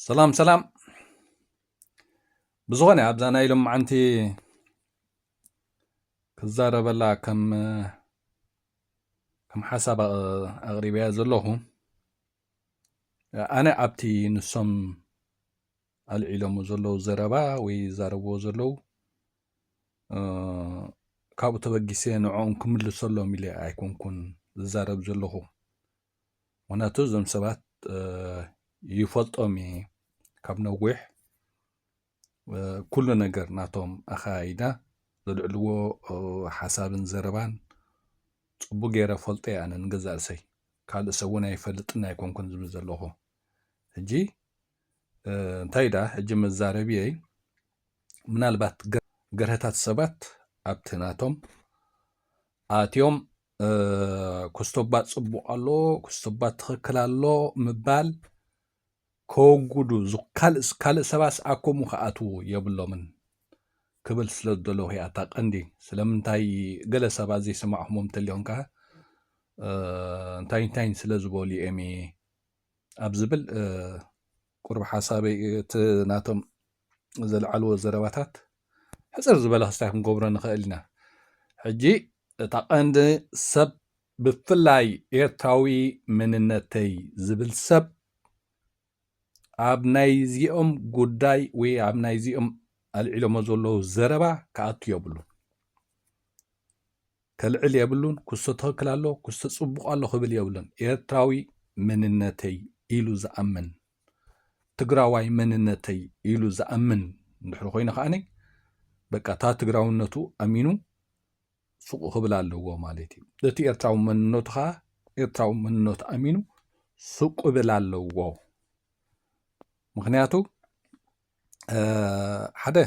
ሰላም ሰላም ብዝኾነ ኣብዛ ናይ ኢሎም መዓንቲ ክዛረበላ ከም ከም ሓሳብ ኣቕሪበያ ዘለኹ ኣነ ኣብቲ ንሶም ኣልዒሎሞ ዘለዉ ዘረባ ወይ ዛረብዎ ዘለዉ ካብኡ ተበጊሰ ንዕኦም ክምልሰሎም ኢለ ኣይኮንኩን ዝዛረብ ዘለኹ ምክንያቱ እዞም ሰባት ይፈልጦም እየ ካብ ነዊሕ ኩሉ ነገር ናቶም ኣኸያይዳ ዘልዕልዎ ሓሳብን ዘረባን ፅቡቅ ገይረ ፈልጦ እየ ኣነ ንገዛእ ርእሰይ ካልእ ሰብ እውን ኣይፈልጥን ኣይኮንኩን ዝብል ዘለኹ ሕጂ እንታይ ደኣ ሕጂ መዛረቢየይ ምናልባት ገርሀታት ሰባት ኣብቲ ናቶም ኣትዮም ኩስቶባት ጽቡቕ ኣሎ ኩስቶባት ትኽክል ኣሎ ምባል ከወግዱ ካልእ ሰባስ ኣኮሙ ክኣትዉ የብሎምን ክብል ስለ ዝደለኹ እያ እታ ቀንዲ ስለምንታይ ገለ ሰባት ዘይሰማዕኹሞም እንተልዮም ከ እንታይ እንታይን ስለ ዝበሉ እየሚ ኣብ ዝብል ቁርብ ሓሳበይ እቲ ናቶም ዘልዓልዎ ዘረባታት ሕጽር ዝበለ ክስታይ ክንገብሮ ንኽእል ኢና ሕጂ እታ ቀንዲ ሰብ ብፍላይ ኤርትራዊ መንነተይ ዝብል ሰብ ኣብ ናይዚኦም ጉዳይ ወይ ኣብ ናይዚኦም ኣልዒሎሞ ዘለዉ ዘረባ ክኣቱ የብሉ ከልዕል የብሉን ኩስቶ ትክክል ኣሎ ኩስቶ ጽቡቅ ኣሎ ክብል የብሉን ኤርትራዊ መንነተይ ኢሉ ዝኣምን ትግራዋይ መንነተይ ኢሉ ዝኣምን እንድሕሪ ኮይኑ ከኣ በቃ እታ ትግራውነቱ ኣሚኑ ሱቁ ክብል ኣለዎ ማለት እዩ እቲ ኤርትራዊ መንነቱ ከዓ ኤርትራዊ መንነቱ ኣሚኑ ሱቅ ክብል ኣለዎ ምክንያቱ ሓደ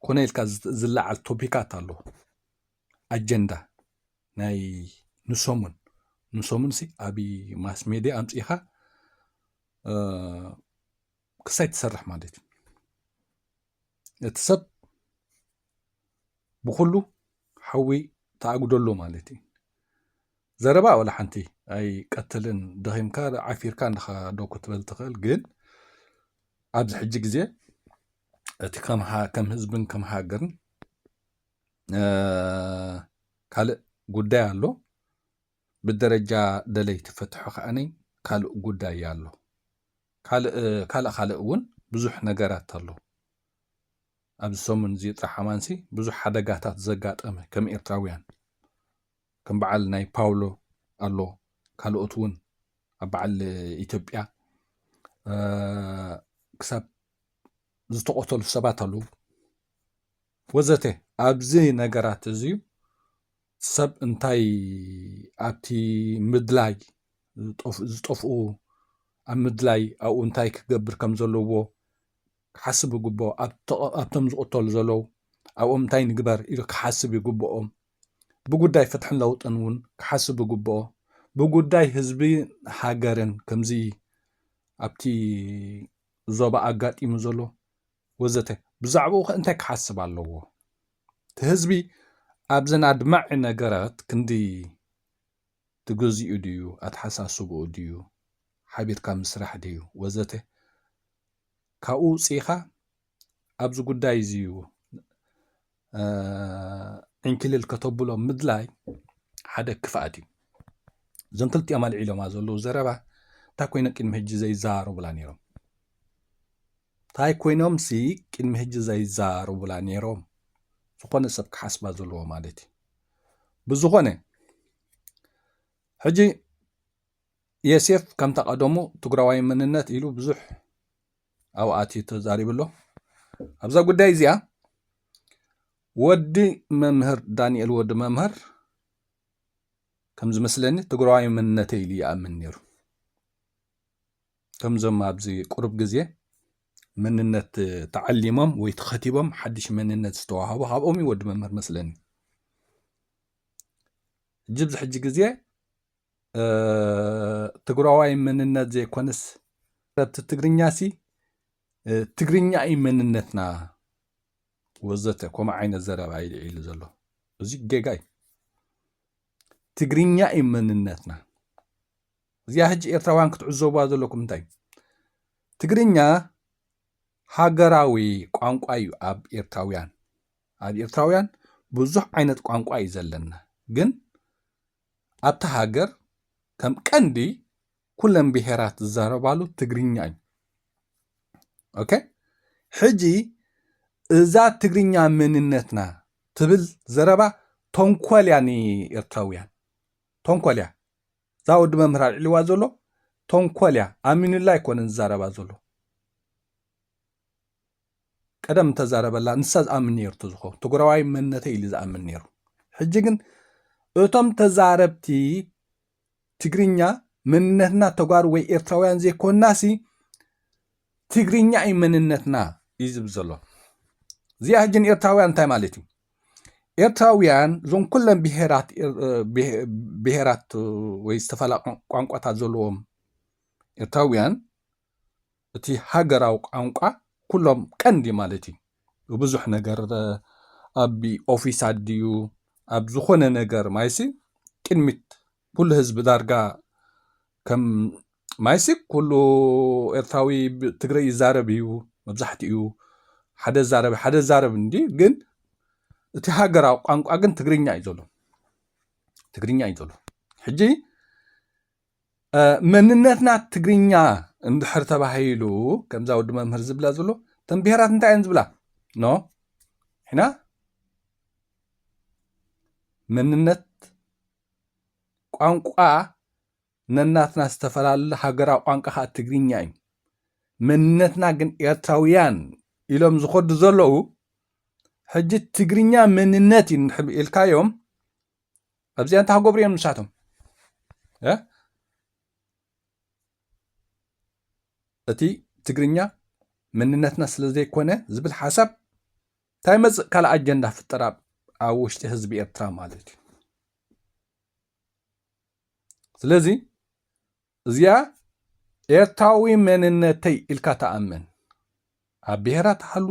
ኮነ ኢልካ ዝለዓል ቶፒካት ኣለዎ ኣጀንዳ ናይ ንሰሙን ንሰሙን ሲ ኣብ ማስ ሜድያ ኣምፅኢኻ ክሳይ ትሰርሕ ማለት እዩ እቲ ሰብ ብኩሉ ሓዊ ተኣጉደሎ ማለት እዩ ዘረባ ወላ ሓንቲ ኣይ ቀትልን ደኺምካ ዓፊርካ እንድኻ ዶ ክትበል ትኽእል ግን ኣብዚ ሕጂ ግዜ እቲ ከም ህዝብን ከም ሃገርን ካልእ ጉዳይ ኣሎ ብደረጃ ደለይቲ ፍትሑ ከዓኒ ካልእ ጉዳይ ኣሎ ካልእ ካልእ እውን ብዙሕ ነገራት ኣሎ ኣብዚ ሰሙን እዚ ጥራሕ ኣማንሲ ብዙሕ ሓደጋታት ዘጋጠመ ከም ኤርትራውያን ከም በዓል ናይ ፓውሎ ኣሎ ካልኦት እውን ኣብ በዓል ኢትዮጵያ ክሳብ ዝተቆተሉ ሰባት ኣለዉ ወዘተ ኣብዚ ነገራት እዚ ሰብ እንታይ ኣብቲ ምድላይ ዝጠፍኡ ኣብ ምድላይ ኣብኡ እንታይ ክገብር ከም ዘለዎ ክሓስብ ይግብኦ ኣብቶም ዝቕተሉ ዘለዉ ኣብኦም እንታይ ንግበር ኢሉ ክሓስብ ይግብኦም ብጉዳይ ፍትሕን ለውጥን እውን ክሓስብ ይግብኦ ብጉዳይ ህዝቢ ሃገርን ከምዚ ኣብቲ ዞባ ኣጋጢሙ ዘሎ ወዘተ ብዛዕባኡኸ እንታይ ክሓስብ ኣለዎ? እቲ ህዝቢ ኣብዘን ኣድማዒ ነገራት ክንዲ ትገዚኡ ድዩ፣ ኣተሓሳስባኡ ድዩ፣ ሓቢርካ ምስራሕ ድዩ ወዘተ ካብኡ ውጺኢኻ ኣብዚ ጉዳይ እዚዩ ዕንክልል ከተብሎ ምድላይ ሓደ ክፍኣት እዩ እዞም ክልቲኦም ኣልዒሎማ ዘለዉ ዘረባ እንታይ ኮይኖ ቅድሚ ሕጂ ዘይዘራረቡላ ነይሮም እንታይ ኮይኖም ሲ ቅድሚ ሕጂ ዘይዘራረቡላ ነይሮም ዝኾነ ሰብ ክሓስባ ዘለዎ ማለት እዩ ብዝኾነ ሕጂ የሴፍ ከምታ ቀደሙ ትግራዋይ መንነት ኢሉ ብዙሕ ኣብኡ ኣትዩ ተዛሪቡ ኣሎ ኣብዛ ጉዳይ እዚኣ ወዲ መምህር ዳንኤል ወዲ መምህር ከም ዝመስለኒ ትግራዋይ መንነተ ኢሉ ይኣምን ነይሩ ከምዞም ኣብዚ ቁርብ ግዜ መንነት ተዓሊሞም ወይ ተኸቲቦም ሓድሽ መንነት ዝተዋሃቡ ካብኦም እዩ ወዲ መምህር መስለኒ እጅ ብዚ ሕጂ ግዜ ትግራዋይ መንነት ዘይኮነስ ረብቲ ትግርኛ ሲ ትግርኛ እዩ መንነትና ወዘተ ከምኡ ዓይነት ዘረባ እዩ ልዒሉ ዘሎ እዚ ጌጋ እዩ ትግርኛ እዩ መንነትና እዚኣ ሕጂ ኤርትራውያን ክትዕዘቡዋ ዘለኩም እንታይ ትግርኛ ሃገራዊ ቋንቋ እዩ ኣብ ኤርትራውያን ኣብ ኤርትራውያን ብዙሕ ዓይነት ቋንቋ እዩ ዘለና ግን ኣብታ ሃገር ከም ቀንዲ ኩለን ብሄራት ዝዛረባሉ ትግርኛ እዩ ኦኬ ሕጂ እዛ ትግርኛ መንነትና ትብል ዘረባ ተንኮል እያ ንኤርትራውያን ተንኮል እያ እዛ ወዲ መምህር ኣልዕልዋ ዘሎ ተንኮል እያ ኣሚኑላ ኣይኮነን ዝዛረባ ዘሎ ቀደም እንተዛረበላ ንሳ ዝኣምን ነይሩ ተዝኾ ትግራዋይ መንነተይ ኢሉ ዝኣምን ነይሩ ሕጂ ግን እቶም ተዛረብቲ ትግርኛ መንነትና ተጓሩ ወይ ኤርትራውያን ዘይኮናሲ ትግርኛ እዩ መንነትና እዩ ዝብል ዘሎ እዚኣ ሕጂ ንኤርትራውያን እንታይ ማለት እዩ ኤርትራውያን እዞም ኩለን ብሄራት ብሄራት ወይ ዝተፈላ ቋንቋታት ዘለዎም ኤርትራውያን እቲ ሃገራዊ ቋንቋ ኩሎም ቀንዲ ማለት እዩ ብብዙሕ ነገር ኣብ ኦፊሳት ድዩ ኣብ ዝኾነ ነገር ማይሲ ቅድሚት ኩሉ ህዝቢ ዳርጋ ከም ማይሲ ኩሉ ኤርትራዊ ትግረ ይዛረብ እዩ መብዛሕትኡ ሓደ ዛረብ ሓደ ዛረብ እንዲ ግን እቲ ሃገራዊ ቋንቋ ግን ትግርኛ እዩ ዘሎ ትግርኛ እዩ ዘሎ ሕጂ መንነትና ትግርኛ እንድሕር ተባሂሉ ከምዛ ወዲ መምህር ዝብላ ዘሎ እተን ብሄራት እንታይ እየን ዝብላ ኖ ሕና መንነት ቋንቋ ነናትና ዝተፈላለዩ ሃገራዊ ቋንቋ ከዓ ትግርኛ እዩ መንነትና ግን ኤርትራውያን ኢሎም ዝኸዱ ዘለዉ ሕጂ ትግርኛ መንነት እዩ ኢልካዮም ኣብዚኣ እንታይ ክገብሩ እዮም ንሳቶም እቲ ትግርኛ መንነትና ስለ ዘይኮነ ዝብል ሓሳብ እንታይ መፅእ ካልእ ኣጀንዳ ፍጠር ኣብ ውሽጢ ህዝቢ ኤርትራ ማለት እዩ ስለዚ እዚኣ ኤርትራዊ መንነተይ ኢልካ ትኣምን ኣብ ብሄራት ሃሉ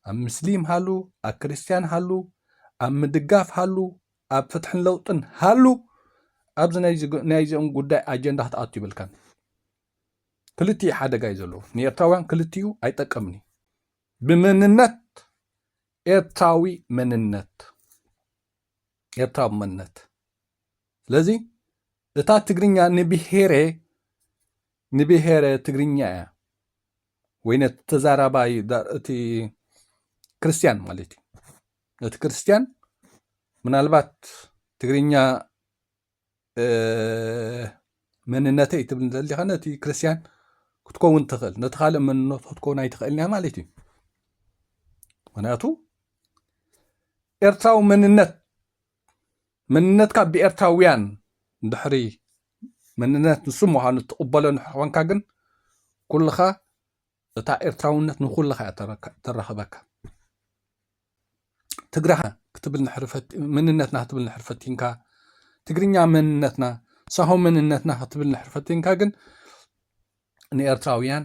ኣብ ምስሊም ሃሉ ኣብ ክርስትያን ሃሉ ኣብ ምድጋፍ ሃሉ ኣብ ፍትሕን ለውጥን ሃሉ ኣብዚ ናይ እዚኦም ጉዳይ ኣጀንዳ ክትኣቱ ይብልካን ክልቲኡ ሓደጋ እዩ ዘለዎ ንኤርትራውያን ክልቲኡ ኣይጠቅምን እዩ ብመንነት ኤርትራዊ መንነት ኤርትራዊ መንነት ስለዚ እታ ትግርኛ ንብሄሬ ንብሄረ ትግርኛ እያ ወይ ነቲ ተዛራባይ እቲ ክርስትያን ማለት እዩ ነቲ ክርስትያን ምናልባት ትግርኛ መንነተይ ትብል ዘሊካ ነቲ ክርስትያን ክትከውን ትኽእል ነቲ ካልእ መንነቱ ክትከውን ኣይትኽእልን እያ ማለት እዩ ምክንያቱ ኤርትራዊ መንነት መንነትካ ብኤርትራውያን ድሕሪ መንነት ንሱ ምዃኑ እትቕበሎ እንድሕር ኾንካ ግን ኩልኻ እታ ኤርትራውነት ንኹልኻ እያ ተራኽበካ ትግራይ ክትብል ንሕሪ መንነትና ክትብል ንሕሪ ፈቲንካ ትግርኛ መንነትና ሳሆ መንነትና ክትብል ንሕሪ ፈቲንካ ግን ንኤርትራውያን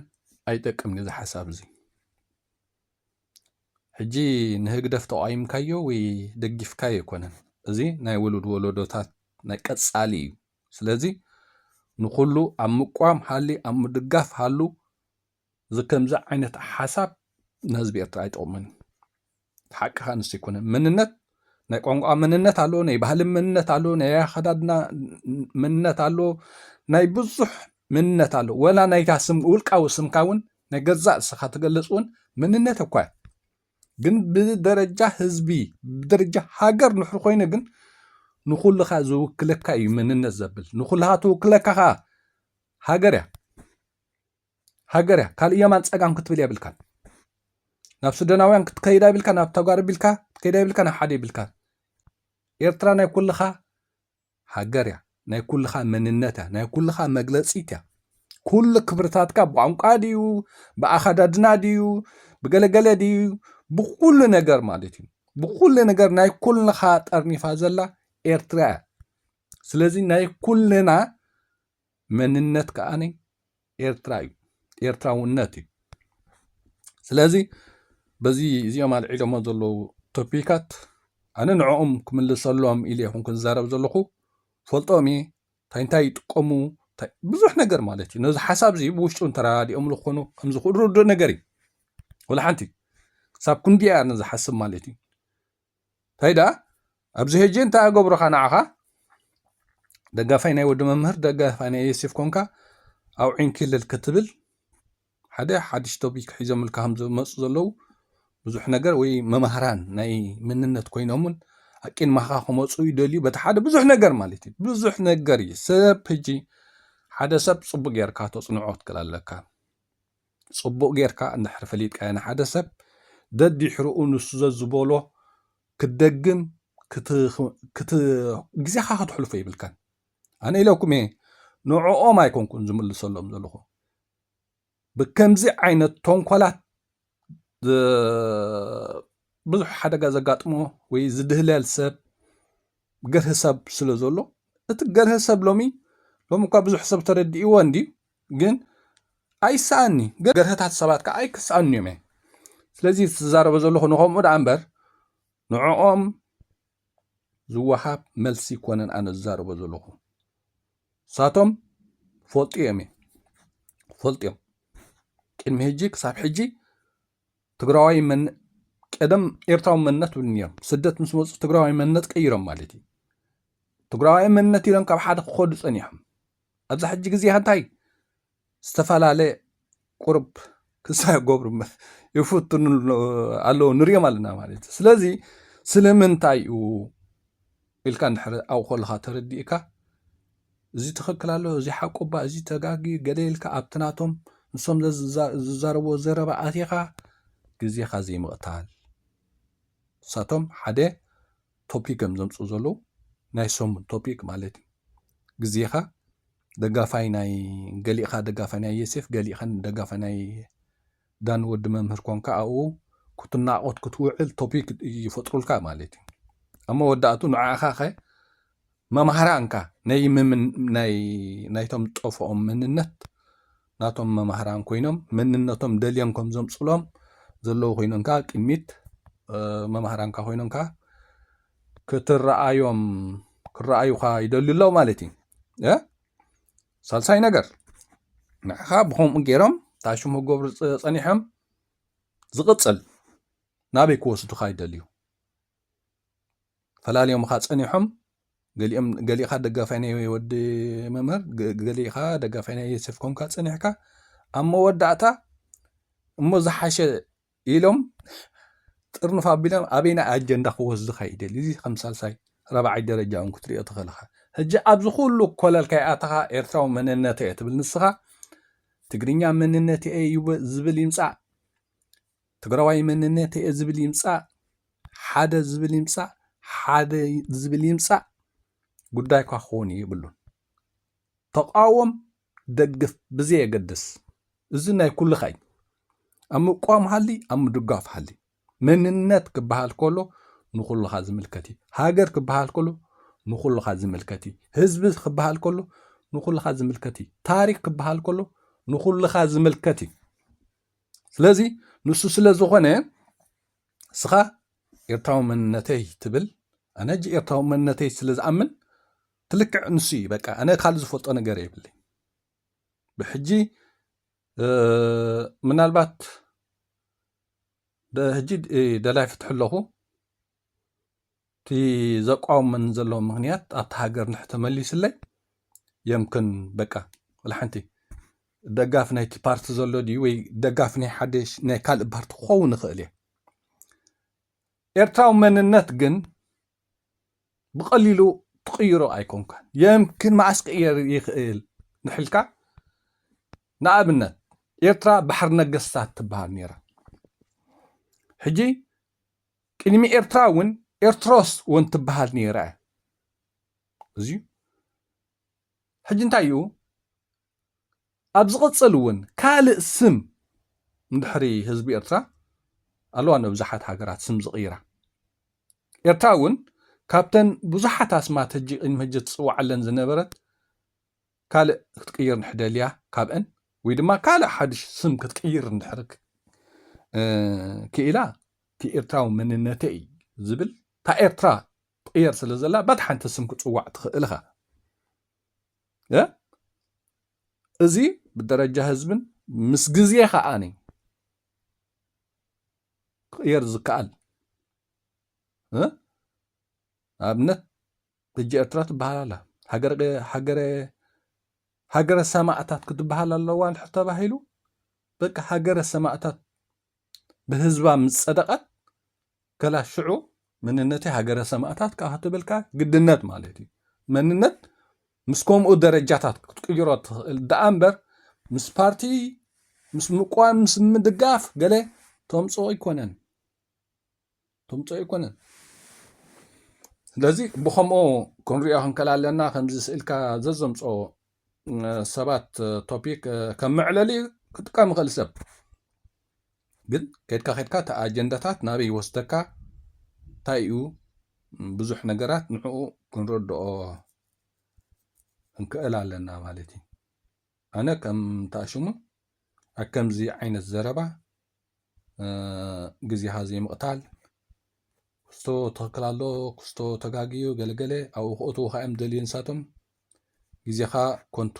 ኣይጠቅምን እዚ ሓሳብ እዚ ሕጂ ንህግደፍ ተቓዊምካዮ ወይ ደጊፍካዮ ኣይኮነን እዚ ናይ ውሉድ ወለዶታት ናይ ቀጻሊ እዩ ስለዚ ንኹሉ ኣብ ምቋም ሃሊ ኣብ ምድጋፍ ሃሉ እዚ ከምዚ ዓይነት ሓሳብ ንህዝቢ ኤርትራ ኣይጠቕሙን ሓቅኻ ንስ ኣይኮነን መንነት ናይ ቋንቋ መንነት ኣሎ ናይ ባህሊ መንነት ኣሎ ናይ ኣከዳድና መንነት ኣሎ ናይ ብዙሕ መንነት ኣሎ ወላ ናይታ ስም ውልቃዊ ስምካ እውን ናይ ገዛእ ስኻ ትገልፅ እውን መንነት እኳ እዩ ግን ብደረጃ ህዝቢ ብደረጃ ሃገር ንሕሪ ኮይኑ ግን ንኩልኻ ዝውክለካ እዩ መንነት ዘብል ንኩልኻ ትውክለካ ከዓ ሃገር እያ ሃገር እያ ካልእ የማን ጸጋም ክትብል የብልካን ናብ ሱደናውያን ክትከይድ ኣይብልካ ናብ ተጓር ቢልካ ክትከይድ ኣይብልካ ናብ ሓደ ይብልካ ኤርትራ ናይ ኩልኻ ሃገር እያ ናይ ኩልኻ መንነት እያ ናይ ኩልኻ መግለፂት እያ ኩሉ ክብርታትካ ብቋንቋ ድዩ ብኣኸዳድና ድዩ ብገለገለ ድዩ ብኩሉ ነገር ማለት እዩ ብኩሉ ነገር ናይ ኩልኻ ጠርኒፋ ዘላ ኤርትራ እያ ስለዚ ናይ ኩልና መንነት ከኣ ኤርትራ እዩ ኤርትራውነት እዩ ስለዚ በዚ እዚኦም ኣልዒሎሞ ዘለዉ ቶፒካት ኣነ ንዕኦም ክምልሰሎም ኢለ ይኹን ክዛረብ ዘለኹ ፈልጦም እየ እንታይ እንታይ ይጥቀሙ ብዙሕ ነገር ማለት እዩ ነዚ ሓሳብ እዚ ብውሽጡ እንተረዳዲኦምሉ ክኾኑ ከምዝኽእሉ ርዱእ ነገር እዩ ወላ ሓንቲ ክሳብ ክንዲኣ ንዝሓስብ ማለት እዩ ታይ ደኣ ኣብዚ ሄጂ እንታይ ኣገብሩኻ ንዓኻ ደጋፋይ ናይ ወዲ መምህር ደጋፋይ ናይ ዮሴፍ ኮንካ ኣውዒን ክልል ክትብል ሓደ ሓድሽ ቶፒክ ሒዞምልካ ከም ዝመፁ ዘለው ብዙሕ ነገር ወይ መማህራን ናይ ምንነት ኮይኖምን ኣቂን ማኻ ክመፁ ይደልዩ በቲ ሓደ ብዙሕ ነገር ማለት እዩ ብዙሕ ነገር እዩ ሰብ ሕጂ ሓደ ሰብ ፅቡቅ ጌርካ ተፅንዖ ትክእል ኣለካ ጽቡቅ ጌርካ እንድሕር ፈሊጥካዮ ንሓደ ሰብ ደዲሕርኡ ንሱ ዘዝበሎ ክትደግም ክት ግዜኻ ከተሕልፎ ይብልካን ኣነ ኢለኩም እየ ንዕኦም ኣይኮንኩን ዝምልሰሎም ዘለኹ ብከምዚ ዓይነት ቶንኮላት ብዙሕ ሓደጋ ዘጋጥሞ ወይ ዝድህለል ሰብ ገርህ ሰብ ስለ ዘሎ እቲ ገርህ ሰብ ሎሚ ሎሚ እኳ ብዙሕ ሰብ ተረዲእዎ እንዲ ግን ኣይሰኣኒ ገርህታት ሰባት ከዓ ኣይክሰኣኑ እዮም እየ ስለዚ ዝዛረበ ዘለኹ ንኸምኡ ደኣ እምበር ንዕኦም ዝወሃብ መልሲ ይኮነን ኣነ ዝዛረበ ዘለኹ ሳቶም ፈልጡ እዮም እየ ፈልጡ እዮም ቅድሚ ሕጂ ክሳብ ሕጂ ትግራዋይ መን ቀደም ኤርትራዊ መንነት ይብሉ ነይሮም ስደት ምስ መፁ ትግራዋይ መንነት ቀይሮም ማለት እዩ ትግራዋይ መንነት ኢሎም ካብ ሓደ ክኸዱ ፀኒሖም ኣብዚ ሕጂ ግዜ ሃንታይ ዝተፈላለየ ቁርብ ክሳ ገብሩ ይፍትኑ ኣለዉ ንሪኦም ኣለና ማለት እዩ ስለዚ ስለምንታይ እዩ ኢልካ እንድሕሪ ኣብኡ ከለካ ተረዲእካ እዚ ትኽክል ኣሎ እዚ ሓቁ እባ እዚ ተጋጊ ገለ ኢልካ ኣብቲ ናቶም ንሶም ዝዛረብዎ ዘረባ ኣቲኻ ግዜኻ ዘይምቕታል ንሳቶም ሓደ ቶፒክ እዮም ዘምጽኡ ዘለዉ ናይ ሰሙን ቶፒክ ማለት እዩ ግዜኻ ደጋፋይ ናይ ገሊእኻ ደጋፋይ ናይ የሴፍ ገሊእኻ ደጋፋይ ናይ ዳን ወዲ መምህር ኮንካ ኣብኡ ክትናቆት ክትውዕል ቶፒክ ይፈጥሩልካ ማለት እዩ ኣብ መወዳእቱ ንዓኻ ከ መማህራንካ ናይቶም ጠፍኦም መንነት ናቶም መማህራን ኮይኖም መንነቶም ደልዮም ከም ዘምጽሎም ዘለዉ ኮይኖም ከኣ ቅድሚት መማህራንካ ኮይኖም ከኣ ክትረኣዮም ክረኣዩኻ ይደልዩ ኣለዉ ማለት እዩ ሳልሳይ ነገር ንዕኻ ብከምኡ ገይሮም ታሽሙ ክገብሩ ጸኒሖም ዝቕጽል ናበይ ክወስዱኻ ይደልዩ ፈላልዮምኻ ጸኒሖም ገሊኦም ገሊኻ ደጋፋይ ናይ ወዲ መምህር ገሊኻ ደጋፋይ ናይ ዮሴፍ ኮንካ ጸኒሕካ ኣብ መወዳእታ እሞ ዝሓሸ ኢሎም ጥርንፍ ኣቢሎም ኣበይ ናይ ኣጀንዳ ክወስዱ ከይደል እዚ ከም ሳልሳይ ረብዓይ ደረጃ እውን ክትሪኦ ትኽእልኻ ሕጂ ኣብዚ ኩሉ ኮለልካ ይኣተኻ ኤርትራዊ መንነት እየ ትብል ንስኻ ትግርኛ መንነት እየ ዝብል ይምፃእ ትግራዋይ መንነት'የ ዝብል ይምፃእ ሓደ ዝብል ይምፃእ ሓደ ዝብል ይምፃእ ጉዳይኳ ክኸውን የብሉን። ተቓወም ደግፍ ብዘየገድስ እዚ ናይ ኩልኻ እዩ። ኣብ ምቋም ሃሊ ኣብ ምድጋፍ ሃሊ መንነት ክበሃል ከሎ ንኹልኻ ዝምልከት እዩ። ሃገር ክበሃል ከሎ ንኹልኻ ዝምልከት እዩ። ህዝቢ ክበሃል ከሎ ንኹልኻ ዝምልከት እዩ። ታሪክ ክበሃል ከሎ ንኹልኻ ዝምልከት እዩ። ስለዚ ንሱ ስለ ዝኾነ እስኻ ኤርትራዊ መንነተይ ትብል ኣነ ጂ ኤርትራዊ መንነተይ ስለ ዝኣምን ትልክዕ ንሱ እዩ በቃ ኣነ ካልእ ዝፈልጦ ነገር የብለይ ብሕጂ ምናልባት ሕጂ ደላይ ፍትሒ ኣለኹ እቲ ዘቋውመኒ ዘሎ ምክንያት ኣብቲ ሃገር ንሕ ተመሊስለይ የምክን በቃ ወላሓንቲ ደጋፊ ናይቲ ፓርቲ ዘሎ ድዩ ወይ ደጋፊ ናይ ሓደ ናይ ካልእ ፓርቲ ክኸውን ይኽእል እየ ኤርትራዊ መንነት ግን ብቐሊሉ ትቕይሮ ኣይኮንካን የምክን መዓስ ክቕየር ይኽእል ንሕልካ ንኣብነት ኤርትራ ባሕሪ ነገስታት ትበሃል ነይራ ሕጂ ቅድሚ ኤርትራ እውን ኤርትሮስ ወን ትበሃል ነይረ እዚ ሕጂ እንታይ እዩ ኣብ ዝቕጽል እውን ካልእ ስም ድሕሪ ህዝቢ ኤርትራ ኣለዋ ንብዙሓት ሃገራት ስም ዝቕይራ ኤርትራ እውን ካብተን ብዙሓት ኣስማት ሕጂ ቅድሚ ሕጂ ትጽዋዓለን ዝነበረት ካልእ ክትቅይር እንድሕር ደልያ ካብእን ወይ ድማ ካልእ ሓድሽ ስም ክትቅይር እንድሕር ክኢላ እቲ ኤርትራዊ መንነተይ ዝብል እታ ኤርትራ ትቕየር ስለ ዘላ ባት ሓንቲ ስም ክጽዋዕ ትኽእል ኢኻ እዚ ብደረጃ ህዝብን ምስ ግዜ ከዓኒ ክቕየር ዝከኣል ኣብነት ሕጂ ኤርትራ ትበሃል ኣላ ሃገረ ሃገረ ሃገረ ሰማእታት ክትበሃል ኣለዋ እንድሕር ተባሂሉ በቃ ሃገረ ሰማእታት ብህዝባ ምስ ጸደቐት ከላ ሽዑ መንነተይ ሃገረ ሰማእታት ከኣ ክትብልካ ግድነት ማለት እዩ መንነት ምስ ከምኡ ደረጃታት ክትቅይሮ ትኽእል ደኣ እምበር ምስ ፓርቲ ምስ ምቋም ምስ ምድጋፍ ገለ ተምጽኦ ኣይኮነን ትምጾ ኣይኮነን ስለዚ ብከምኡ ክንሪኦ ክንከል ኣለና ከምዚ ስእልካ ዘዘምጾ ሰባት ቶፒክ ከም መዕለሊ ክጥቀም ይኽእል ሰብ ግን ከድካ ከድካ እቲ ኣጀንዳታት ናበይ ይወስደካ እንታይ እዩ ብዙሕ ነገራት ንዕኡ ክንረድኦ ክንክእል ኣለና ማለት እዩ ኣነ ከም ታሽሙ ኣብ ከምዚ ዓይነት ዘረባ ግዜኻ ዘይምቕታል ክስቶ ትኽክል ኣሎ ክስቶ ተጋግዩ ገለገለ ኣብኡ ክእትዉ ከዓ እዮም ደልዩ ንሳቶም ግዜኻ ኮንቱ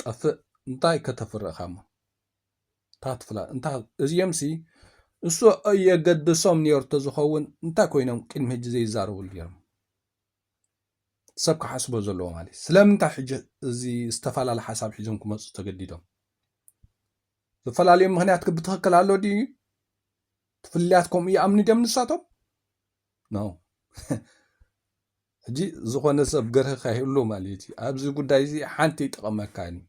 ጠፍእ እንታይ ከተፍሪ እኻ እሞ እንታይ ትፍላ እንታይ እዚኦምሲ እሱ የገድሶም ነይሩ ተዝኸውን እንታይ ኮይኖም ቅድሚ ሕጂ ዘይዛረብሉ ነይሮም ሰብ ክሓስቦ ዘለዎ ማለት ስለምንታይ ሕጂ እዚ ዝተፈላለ ሓሳብ ሒዞም ክመፁ ተገዲዶም ዝፈላለዩ ምክንያት ብትክክል ኣሎ ድዩ ትፍልያት ከምኡ ይኣምኑ ድዮም ንሳቶም ነው ሕጂ ዝኾነ ሰብ ገርህካ ይህሉ ማለት እዩ ኣብዚ ጉዳይ እዚ ሓንቲ ይጠቕመካን እዩ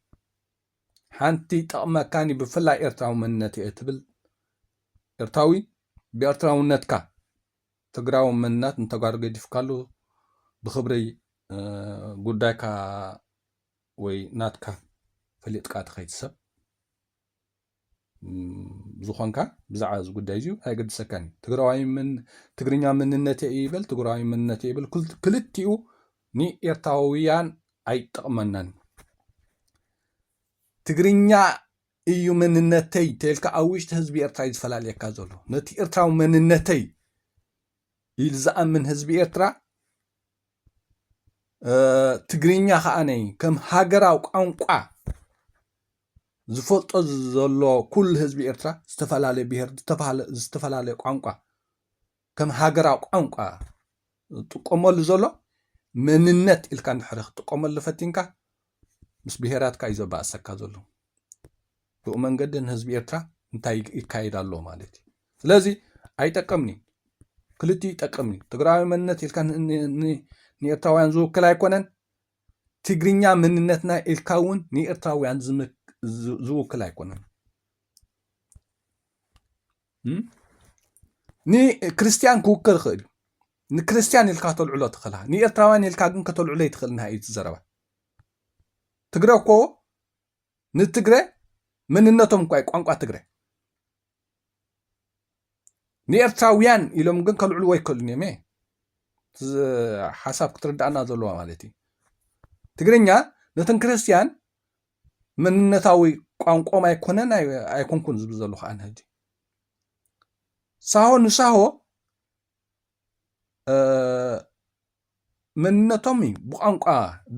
ሓንቲ ይጠቕመካን እዩ ብፍላይ ኤርትራዊ መንነት እየ ትብል ኤርትራዊ ብኤርትራውነትካ ትግራዊ መንነት ንተጋሩ ገዲፍካሉ ብክብሪ ጉዳይካ ወይ ናትካ ፈሊጥካ ትኸይድ ሰብ ዝኾንካ ብዛዕባ እዚ ጉዳይ እዚዩ ኣይገድሰካን እዩ ትግራዋይ ትግርኛ መንነተ እዩ ይበል ትግራዋይ መንነተ ይበል ክልቲኡ ንኤርትራውያን ኣይጠቕመናን ትግርኛ እዩ መንነተይ ተልካ ኣብ ውሽጢ ህዝቢ ኤርትራ እዩ ዝፈላልየካ ዘሎ ነቲ ኤርትራዊ መንነተይ ኢሉ ዝኣምን ህዝቢ ኤርትራ ትግርኛ ከዓ ነይ ከም ሃገራዊ ቋንቋ ዝፈልጦ ዘሎ ኩሉ ህዝቢ ኤርትራ ዝተፈላለየ ብሄር ዝተፈላለየ ቋንቋ ከም ሃገራዊ ቋንቋ ዝጥቀመሉ ዘሎ መንነት ኢልካ እንድሕሪ ክትጥቀመሉ ፈቲንካ ምስ ብሄራትካ እዩ ዘባእሰካ ዘሎ። ብኡ መንገዲ ንህዝቢ ኤርትራ እንታይ ይካየድ ኣሎ ማለት እዩ። ስለዚ ኣይጠቅምን እዩ። ክልቲኡ ይጠቅም እዩ። ትግራዊ መንነት ኢልካ ንኤርትራውያን ዝውክል ኣይኮነን። ትግርኛ መንነትና ኢልካ እውን ንኤርትራውያን ዝውክል ኣይኮነን። ንክርስትያን ክውክል ይኽእል እዩ ንክርስትያን ኢልካ ተልዕሎ ትኽእልካ ንኤርትራውያን ኢልካ ግን ከተልዕሎ ይትኽእል ናይ እዩ ዘረባ ትግረ እኮ ንትግረ መንነቶም እኳ ቋንቋ ትግረ ንኤርትራውያን ኢሎም ግን ከልዕልዎ ይክእሉን እዮም እየ ሓሳብ ክትርዳእና ዘለዋ ማለት እዩ ትግርኛ ነተን ክርስትያን መንነታዊ ቋንቆኦም ኣይኮነን ኣይኮንኩን ዝብል ዘለኹ ኣነ ሕጂ ሳሆ ንሳሆ መንነቶም እዩ ብቋንቋ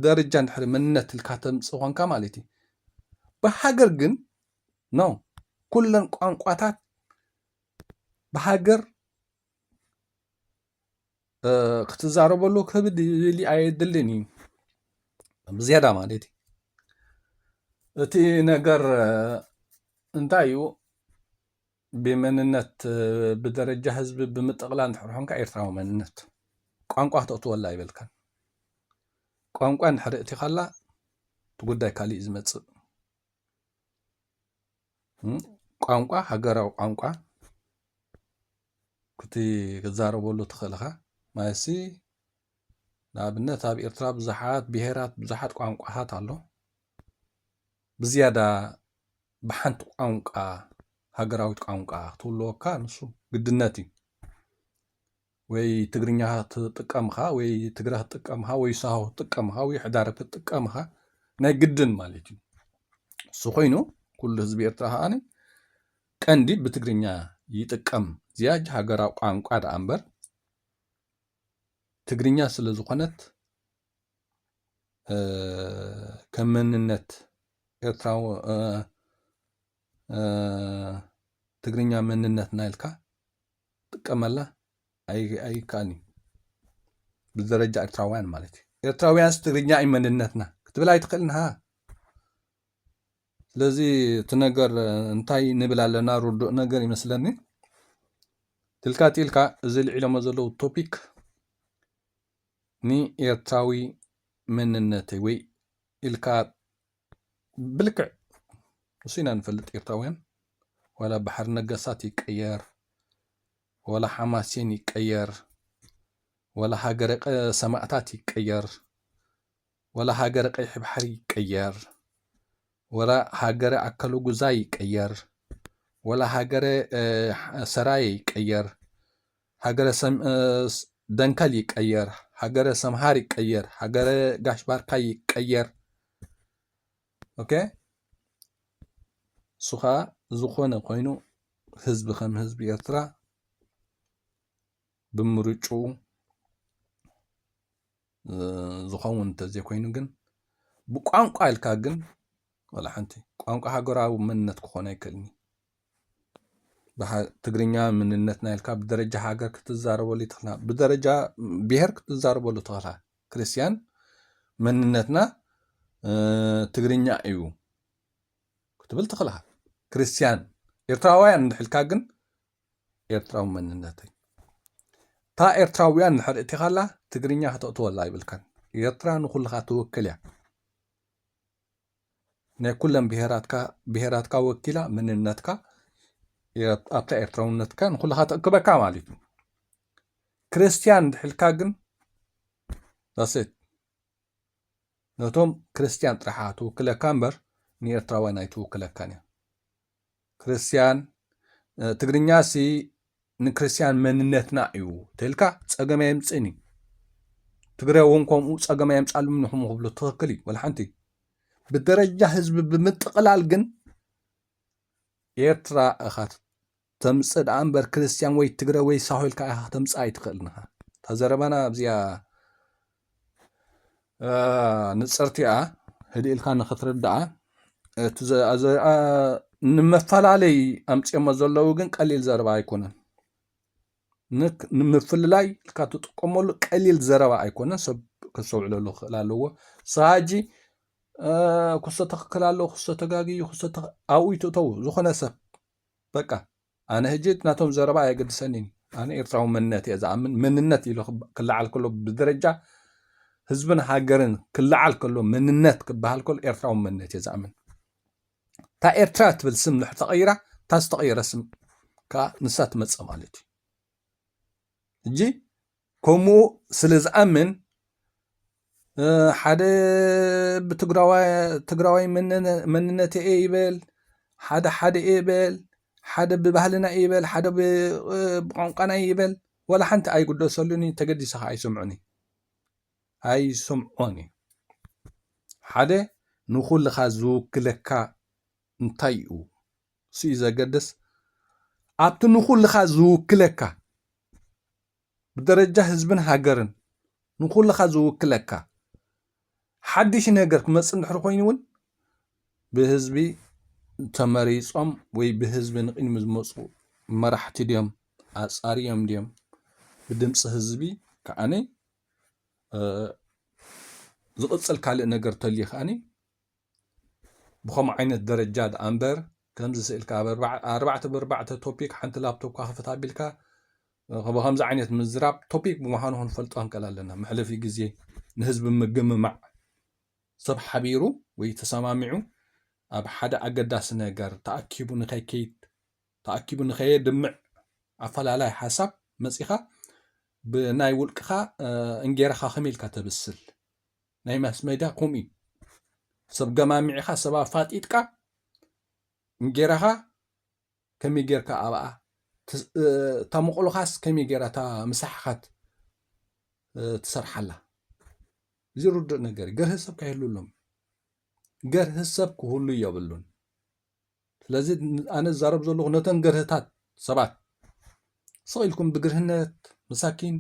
ደረጃ እንድሕሪ መንነት ኢልካ ተምፅ ኮንካ ማለት እዩ ብሃገር ግን ኖ ኩለን ቋንቋታት ብሃገር ክትዛረበሉ ክብድ ይብል ኣየድልን እዩ ብዝያዳ ማለት እዩ እቲ ነገር እንታይ እዩ ብመንነት ብደረጃ ህዝቢ ብምጥቕላ እንድሕር ኾንካ ኤርትራዊ መንነት ቋንቋ ክተእትወላ ይበልካን ቋንቋ እንድሕር እቲኻላ እቲ ጉዳይ ካሊእ እዩ ዝመፅእ ቋንቋ ሃገራዊ ቋንቋ ክቲ ክዛረበሉ ትኽእል እኻ ማለትሲ ንኣብነት ኣብ ኤርትራ ብዙሓት ብሄራት ብዙሓት ቋንቋታት ኣሎ ብዝያዳ ብሓንቲ ቋንቋ ሃገራዊት ቋንቋ ክትውልወካ ንሱ ግድነት እዩ ወይ ትግርኛ ትጥቀም ኢኻ ወይ ትግረ ክትጥቀም ኢኻ ወይ ሳሆ ክትጥቀም ኢኻ ወይ ሕዳር ክትጥቀም ኢኻ ናይ ግድን ማለት እዩ እሱ ኮይኑ ኩሉ ህዝቢ ኤርትራ ከዓኒ ቀንዲ ብትግርኛ ይጥቀም ዝያጅ ሃገራዊ ቋንቋ ደኣ እምበር ትግርኛ ስለ ዝኾነት ከም መንነት ኤርትራዊ ትግርኛ መንነትና ኢልካ ጥቀመላ ኣይከኣልን እዩ ብደረጃ ኤርትራውያን ማለት እዩ ኤርትራውያንስ ትግርኛ እዩ መንነትና ክትብል ኣይትኽእልን ሃ ስለዚ እቲ ነገር እንታይ ንብል ኣለና ርዱእ ነገር ይመስለኒ ትልካ ጢልካ እዚ ልዒሎሞ ዘለዉ ቶፒክ ንኤርትራዊ መንነተይ ወይ ኢልካ ብልክዕ ንሱ ኢና ንፈልጥ ኤርትራውያን ዋላ ባሕሪ ነገሳት ይቀየር ወላ ሓማሴን ይቀየር ወላ ሃገረ ሰማእታት ይቀየር ወላ ሃገረ ቀይሕ ባሕሪ ይቀየር ወላ ሃገረ ኣከለጉዛይ ይቀየር ወላ ሃገረ ሰራየ ይቀየር ሃገረ ደንከል ይቀየር ሃገረ ሰምሃር ይቀየር ሃገረ ጋሽ ባርካ ይቀየር ኦኬ እሱ ከዓ ዝኾነ ኮይኑ ህዝቢ ከም ህዝቢ ኤርትራ ብምርጭኡ ዝኸውን እንተዘይኮይኑ ግን ብቋንቋ ኢልካ ግን ዋላ ሓንቲ ቋንቋ ሃገራዊ መንነት ክኾን ኣይክእልኒ ትግርኛ ምንነትና ኢልካ ብደረጃ ሃገር ክትዛረበሉ ይትኽእልና ብደረጃ ብሄር ክትዛረበሉ ትኽእላ ክርስትያን መንነትና ትግርኛ እዩ ክትብል ትኽእልካ ክርስትያን ኤርትራውያን እንድሕልካ ግን ኤርትራዊ መንነተይ እታ ኤርትራውያን ንሕር እቲኻላ ትግርኛ ከተእትወላ ይብልካን ኤርትራ ንኩልኻ ትውክል እያ ናይ ኩለን ብሄራትካ ብሄራትካ ወኪላ መንነትካ ኣብታ ኤርትራውነትካ ንኩልኻ ተእክበካ ማለት እዩ ክርስትያን ድሕልካ ግን ዳሴት ነቶም ክርስትያን ጥራሓ ትውክለካ እምበር ንኤርትራውያን ኣይትውክለካን እያ ክርስትያን ትግርኛ ሲ ንክርስትያን መንነትና እዩ ተልካ ፀገም ኣየምፅእን እዩ ትግራይ እውን ከምኡ ፀገም ኣየምፃሉም ንኹም ክብሉ ትኽክል እዩ ወላሓንቲ ብደረጃ ህዝቢ ብምጥቕላል ግን ኤርትራ እኻ ተምፅእ ደኣ እምበር ክርስትያን ወይ ትግረ ወይ ሳሆልካ ኢኻ ተምፅእ ኣይትኽእልን ኢኻ ተዘረባና ኣብዚኣ ንጽርቲኣ ህድእ ኢልካ ንክትርድኣ እቲ ዘሪኣ ንመፈላለይ ኣምፅኦሞ ዘለዉ ግን ቀሊል ዘረባ ኣይኮነን ንምፍልላይ ኢልካ ትጥቀመሉ ቀሊል ዘረባ ኣይኮነን ሰብ ከስተውዕለሉ ክኽእል ኣለዎ ሳጂ ክሶ ትኽክል ኣለዎ ክሶ ተጋግዩ ክሶ ኣብኡ ይትእተው ዝኾነ ሰብ በቃ ኣነ ህጂ እቲ ናቶም ዘረባ ኣየገድሰኒን ኣነ ኤርትራዊ መንነት እየ ዝኣምን መንነት ኢሉ ክለዓል ከሎ ብደረጃ ህዝብን ሃገርን ክለዓል ከሎ መንነት ክበሃል ከሎ ኤርትራዊ መንነት እየ ዝኣምን እታ ኤርትራ ትብል ስም ንሕ ተቐይራ እታ ዝተቐየረ ስም ከዓ ንሳ ትመፅእ ማለት እዩ እጂ ከምኡ ስለ ዝኣምን ሓደ ብትግራዋይ መንነተ እየ ይበል ሓደ ሓደ እየ በል ሓደ ብባህልና እየ ይበል ሓደ ብቋንቋና እየ ይበል ዋላ ሓንቲ ኣይግደሰሉን እዩ ተገዲሰ ከዓ ኣይሰምዖን እዩ ኣይሰምዖን እዩ ሓደ ንኹልኻ ዝውክለካ እንታይ እዩ ስዩ ዘገድስ ኣብቲ ንኹልኻ ዝውክለካ ብደረጃ ህዝብን ሃገርን ንኹልኻ ዝውክለካ ሓድሽ ነገር ክመፅእ እንድሕር ኮይኑ እውን ብህዝቢ ተመሪፆም ወይ ብህዝቢ ንቕድሚ ዝመፁ መራሕቲ ድዮም ኣፃሪዮም ድዮም ብድምፂ ህዝቢ ከዓኒ ዝቕፅል ካልእ ነገር ተልዩ ከዓኒ ብኸምኡ ዓይነት ደረጃ ደኣ እምበር ከምዚ ስእልካ ኣብ ኣርባዕተ ብኣርባዕተ ቶፒክ ሓንቲ ላፕቶፕካ ክፍት ኣቢልካ ብከምዚ ዓይነት ምዝራብ ቶፒክ ብምዃኑ ክንፈልጦ ክንቀል ኣለና መሕለፊ ግዜ ንህዝቢ ምግምማዕ ሰብ ሓቢሩ ወይ ተሰማሚዑ ኣብ ሓደ ኣገዳሲ ነገር ተኣኪቡ ንኸይከይድ ተኣኪቡ ንኸየድምዕ ኣፈላላይ ሓሳብ መጺኻ ብናይ ውልቅኻ እንጌራኻ ከመይ ኢልካ ተብስል ናይ ማስሜዳ ከምኡ እዩ ሰብ ገማሚዕኻ ሰብ ኣፋጢጥካ እንጌራኻ ከመይ ጌርካ ኣብኣ እታ መቕሎኻስ ከመይ ጌራ እታ ምሳሕኻት ትሰርሓላ እዚ ርዱእ ነገር ገርህ ሰብ ከይህሉ ኣሎም ገርህ ሰብ ክህሉ የብሉን ስለዚ ኣነ ዝዛረብ ዘለኹ ነተን ገርህታት ሰባት ስቕ ኢልኩም ብግርህነት መሳኪን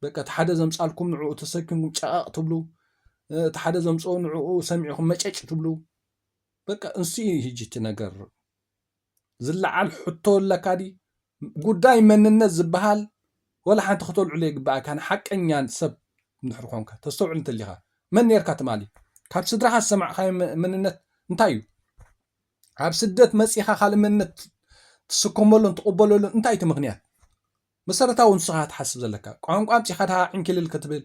በቃ እቲ ሓደ ዘምፃልኩም ንዕኡ ተሰኪምኩም ጨቐቕ ትብሉ እቲ ሓደ ዘምፅኦ ንዕኡ ሰሚዕኹም መጨጭ ትብሉ በቃ እንስኡ ህጂ እቲ ነገር ዝለዓል ሕቶ ኣለካ ዲ ጉዳይ መንነት ዝባሃል ወላ ሓንቲ ክተልዕሎ ኣይግባኣካን ሓቀኛ ሰብ እንድሕር ኮንካ ተስተውዕል እንተሊካ መን ኔርካ ትማሊ ካብ ስድራካ ዝሰማዕካዮ መንነት እንታይ እዩ ኣብ ስደት መጺኻ ካልእ መንነት ትስከመሉን ትቕበለሉን እንታይ እቲ ምክንያት መሰረታዊ ንስኻ ትሓስብ ዘለካ ቋንቋ ኣምጺኻ ድሃ ዕንክልል ክትብል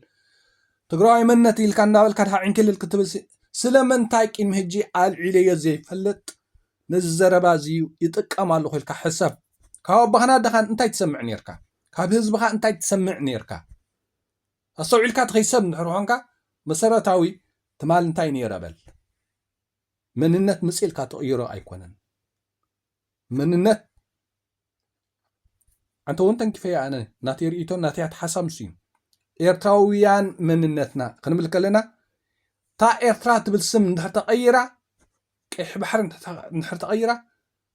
ትግራዋይ መንነት ኢልካ እናበልካ ድሃ ዕንክልል ክትብል ስለምንታይ ቂም ህጂ ኣልዒለዮ ዘይፈልጥ ነዚ ዘረባ እዚ ይጥቀም ኣለኹ ኢልካ ሕሰብ። ካብ ኣቦኻን ኣደኻን እንታይ ትሰምዕ ኔርካ? ካብ ህዝብኻ እንታይ ትሰምዕ ኔርካ? ኣስተውዒልካ ትኺሰብ እንድሕር ኾንካ መሰረታዊ ትማል እንታይ ኔረ በል። መንነት ምጽ ኢልካ ትቕይሮ ኣይኮነን። መንነት ኣንተ ውን ተንኪፈያ ኣነ ናተይ ሪኢቶን ናተይ ኣትሓሳብ ንሱ እዩ ኤርትራውያን መንነትና ክንብል ከለና እታ ኤርትራ ትብል ስም እንድሕር ተቐይራ ቀይሕ ባሕሪ እንድሕር ተቐይራ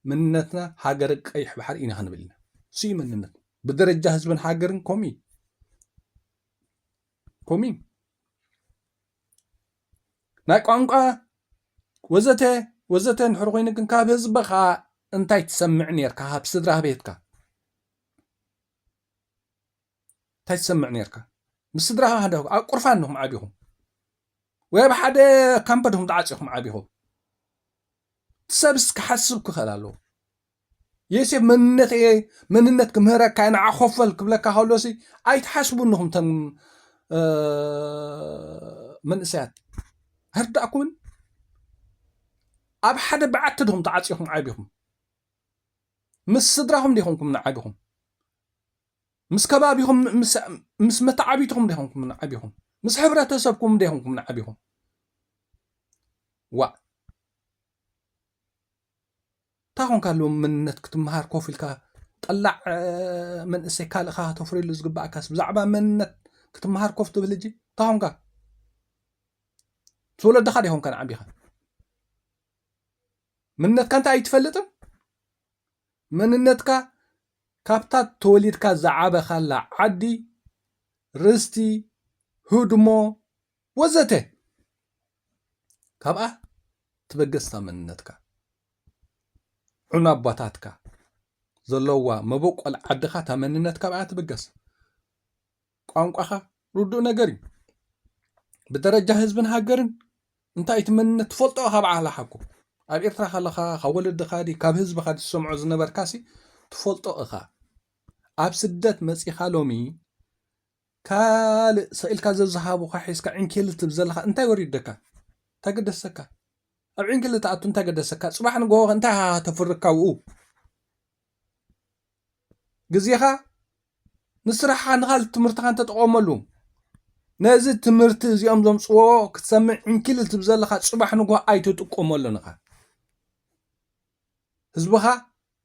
መንነትና ሃገር ቀይሕ ባሕሪ ኢና ክንብል ኢና እሱ እዩ መንነት ብደረጃ ህዝብን ሃገርን ከምኡ እዩ ከምኡ እዩ ናይ ቋንቋ ወዘተ ወዘተ እንድሕር ኮይኑ ግን ካብ ህዝብኻ እንታይ ትሰምዕ ነርካ ካብ ስድራ ቤትካ እንታይ ትሰምዕ ነርካ ምስ ስድራኻ ሓደ ኣብ ቁርፋ እንኹም ዓቢኹም ወይ ኣብ ሓደ ካምፐድኹም ተዓፂኹም ዓቢኹም ሰብ ክሓስብ ክኽእል ኣለዎ ዬሴፍ መንነት እየ መንነት ክምህረካ እየ ንዓ ኮፈል ክብለካ ከሎሲ ኣይትሓስቡን ኢኹም ተም መንእሰያት ኣይርዳእኩምን ኣብ ሓደ በዓቲ ድኹም ተዓፂኹም ዓቢኹም ምስ ስድራኹም ዲኹምኩም ንዓቢኹም ምስ ከባቢኹም ምስ መተዓቢትኹም ዲኹምኩም ንዓቢኹም ምስ ሕብረተሰብኩም ዲኹምኩም ንዓቢኹም ዋ እንታይ ኮንካ ሎሚ መንነት ክትመሃር ኮፍ ኢልካ ጠላዕ መንእሰይ ካልእካ ተፍርየሉ ዝግባኣካስ ብዛዕባ መንነት ክትመሃር ኮፍ ትብል እጂ እንታይ ኮንካ ዝወለድኻ ዲኾም ከን ዓቢኻ መንነትካ እንታይ ኣይትፈልጥን መንነትካ ካብታ ተወሊድካ ዝዓበኻላ ዓዲ ርስቲ ህድሞ ወዘተ ካብኣ ትበገስታ መንነትካ ዑና ኣባታትካ ዘለዋ መበቆል ዓድኻ እታ መንነት ካብኣ ትብገስ ቋንቋኻ ርዱእ ነገር እዩ ብደረጃ ህዝብን ሃገርን እንታይ እቲ መንነት ትፈልጦ ካብ ዓላ ሓኩ ኣብ ኤርትራ ከለኻ ካብ ወለድኻ ዲ ካብ ህዝብኻ ዝሰምዖ ዝነበርካሲ ትፈልጦ እኻ ኣብ ስደት መፂኻ ሎሚ ካልእ ሰቂልካ ዘዝሃቡካ ሒዝካ ዒንኪልል ትብል ዘለካ እንታይ ወሪደካ እንታይ ገደሰካ ኣብ ዒንኪልል ትኣቱ እንታይ ገደሰካ ጽባሕ ንግሆ ከ እንታይ ሃሃ ተፍሪ ካብኡ ግዜኻ ንስራሕኻ ንካልእ ትምህርትኻን ተጠቐመሉ ነዚ ትምህርቲ እዚኦም ዘምጽዎ ክትሰምዕ ዕንኪልል ትብ ዘለኻ ጽባሕ ንግሆ ኣይትጥቀመሉን ኢኻ ህዝብኻ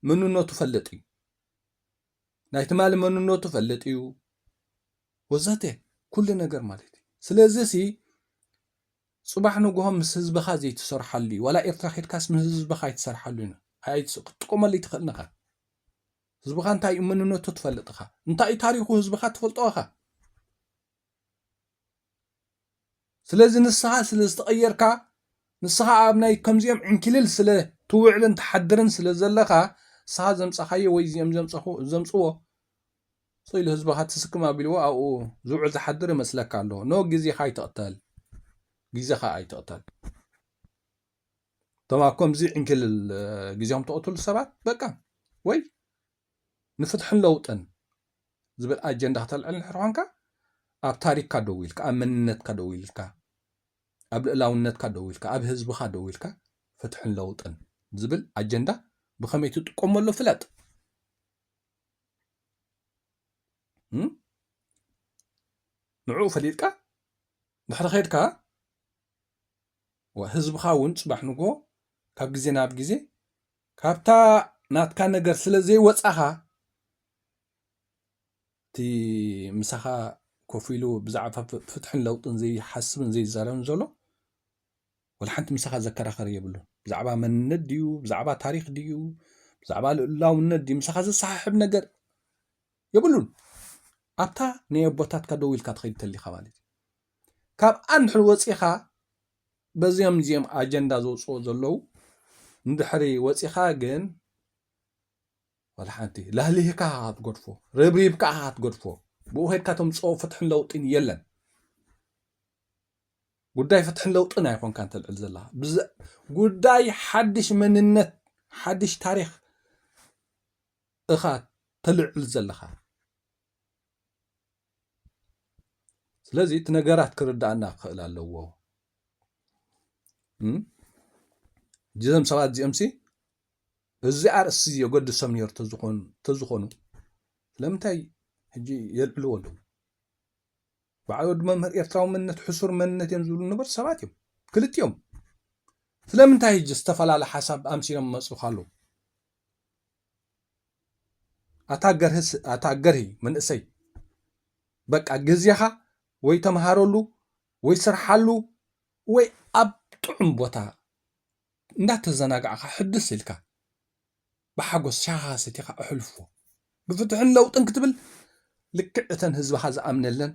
መንነቱ ፈልጥ እዩ ናይ ትማሊ መንነቱ ፈልጥ እዩ ወዘተ ኩሉ ነገር ማለት እዩ ስለዚ ሲ ጽባሕ ንግሆ ምስ ህዝብኻ ዘይትሰርሓሉ እዩ ዋላ ኤርትራ ኬድካስ ምስ ህዝብኻ ኣይትሰርሓሉ እዩ ክትጥቀመሉ ይትኽእል ኢኻ ህዝብኻ እንታይ እዩ መንነቱ ትፈልጥ ኢኻ እንታይ እዩ ታሪኹ ህዝብኻ ትፈልጦ ኢኻ ስለዚ ንስኻ ስለ ዝተቐየርካ ንስኻ ኣብ ናይ ከምዚኦም ዕንኪልል ስለ ትውዕልን ትሓድርን ስለ ዘለኻ ንስኻ ዘምጻኻዮ ወይ እዚኦም ዘምጽዎ ሶ ኢሉ ህዝብኻ ትስክም ኣቢልዎ ኣብኡ ዝውዕል ዝሓድር ይመስለካ ኣሎ ኖ ግዜኻ ኣይትቕተል ግዜኻ ኣይትቕተል እቶም ኣብ ከምዚ ዕንኪልል ግዜኦም ተቕትሉ ሰባት በቃ ወይ ንፍትሕን ለውጥን ዝብል ኣጀንዳ ክተልዕል እንድሕር ኾንካ ኣብ ታሪኽካ ደው ኢልካ ኣብ መንነትካ ደው ኢልካ ኣብ ልእላውነትካ ደው ኢልካ ኣብ ህዝብኻ ደው ኢልካ ፍትሕን ለውጥን ዝብል ኣጀንዳ ብኸመይ ትጥቀመሉ ፍለጥ ንዕኡ ፈሊጥካ ድሕሪ ኼድካ ህዝብኻ እውን ፅባሕ ንጎ ካብ ግዜ ናብ ግዜ ካብታ ናትካ ነገር ስለ ዘይወጻኻ እቲ ምሳኻ ኮፍ ኢሉ ብዛዕባ ፍትሕን ለውጥን ዘይሓስብን ዘይዛረብን ዘሎ ወላ ሓንቲ ምሳኻ ዘከራኸር የብሉን ብዛዕባ መንነት ድዩ ብዛዕባ ታሪክ ድዩ ብዛዕባ ልእላውነት ድዩ ምሳኻ ዘሰሓሕብ ነገር የብሉን ኣብታ ናይ ኣቦታትካ ደው ኢልካ ትኸይድ ተሊኻ ማለት እዩ ካብ ኣንድሕር ወፂኻ በዚኦም እዚኦም ኣጀንዳ ዘውፅኡ ዘለው ንድሕሪ ወፂኻ ግን ዋላ ሓንቲ ላህሊህካ ኢኻ ክትገድፎ ረብሪብካ ኢኻ ክትገድፎ ብኡ ከድካ ተምፅኦ ፍትሕን ለውጢን የለን ጉዳይ ፍትሕን ለውጥን ኣይኮንካ እንተልዕል ዘላ ጉዳይ ሓድሽ መንነት ሓድሽ ታሪክ እኻ ተልዕል ዘለኻ ስለዚ እቲ ነገራት ክርዳእና ክኽእል ኣለዎ እዞም ሰባት እዚኦም ሲ እዚ ኣርእስቲ እዚ የገድሶም ነይሩ ተዝኾኑ ስለምንታይ ሕጂ የልዕልዎ ኣለዉ በዓል ወዲ መምህር ኤርትራዊ መንነት ሕሱር መንነት እዮም ዝብሉ ነበር ሰባት እዮም ክልቲኦም ስለምንታይ ሕጂ ዝተፈላለ ሓሳብ ኣምሲሎም መፅልካ ኣለዉ ኣታ ገርህስ ኣታ ገርሂ መንእሰይ በቃ ግዜኻ ወይ ተምሃረሉ ወይ ስርሓሉ ወይ ኣብ ጥዑም ቦታ እንዳተዘናጋዕካ ሕድስ ኢልካ ብሓጎስ ሻኻ ሰቲኻ እሕልፎ ብፍትሕን ለውጥን ክትብል ልክዕ እተን ህዝብኻ ዝኣምነለን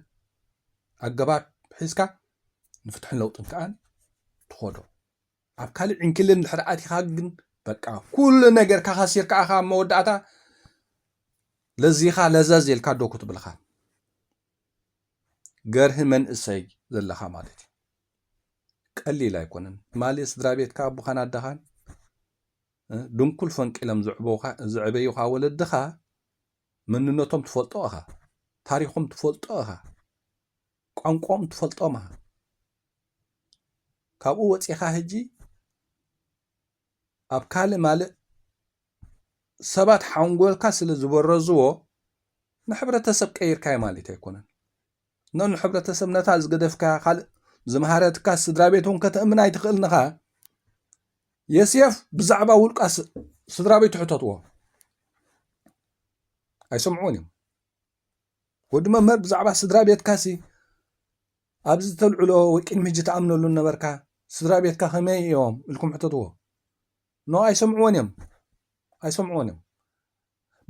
ኣገባብ ሒዝካ ንፍትሕን ለውጥን ከዓ ትኾዶ ኣብ ካልእ ዕንክሊል እንድሕር ኣቲኻ ግን በቃ ኩሉ ነገርካ ከሲርካ ኣኻ ኣብ መወዳእታ ለዚኻ ለዘዝ ኢልካ ዶ ክትብልኻ ገርሂ መንእሰይ ዘለኻ ማለት እዩ ቀሊል ኣይኮነን ትማሊ ስድራ ቤትካ ኣቦኻን ኣደኻን ድንኩል ፈንቂሎም ዘዕበዩኻ ወለድኻ መንነቶም ትፈልጦ ኢኻ ታሪኾም ትፈልጦ ኢኻ ቋንቋኦም ትፈልጦም ኢኻ ካብኡ ወፂኻ ህጂ ኣብ ካልእ ማልእ ሰባት ሓንጎልካ ስለ ዝበረዝዎ ንሕብረተሰብ ቀይርካዮ ማለት ኣይኮነን ኖ ንሕብረተሰብ ነታ ዝገደፍካያ ካልእ ዝመሃረትካ ስድራ ቤት እውን ከተእምን ኣይትኽእልን ኢኻ የስየፍ ብዛዕባ ውልቃ ስድራ ቤቱ ሕተትዎ ኣይሰምዑን እዮም ወዲ መምህር ብዛዕባ ስድራ ቤትካሲ ኣብዚ ተልዕሎ ወይ ቅድሚ ሕጂ ተኣምነሉ ነበርካ ስድራ ቤትካ ከመይ እዮም ኢልኩም ሕተትዎ ኖ ኣይሰምዕዎን እዮም ኣይሰምዕዎን እዮም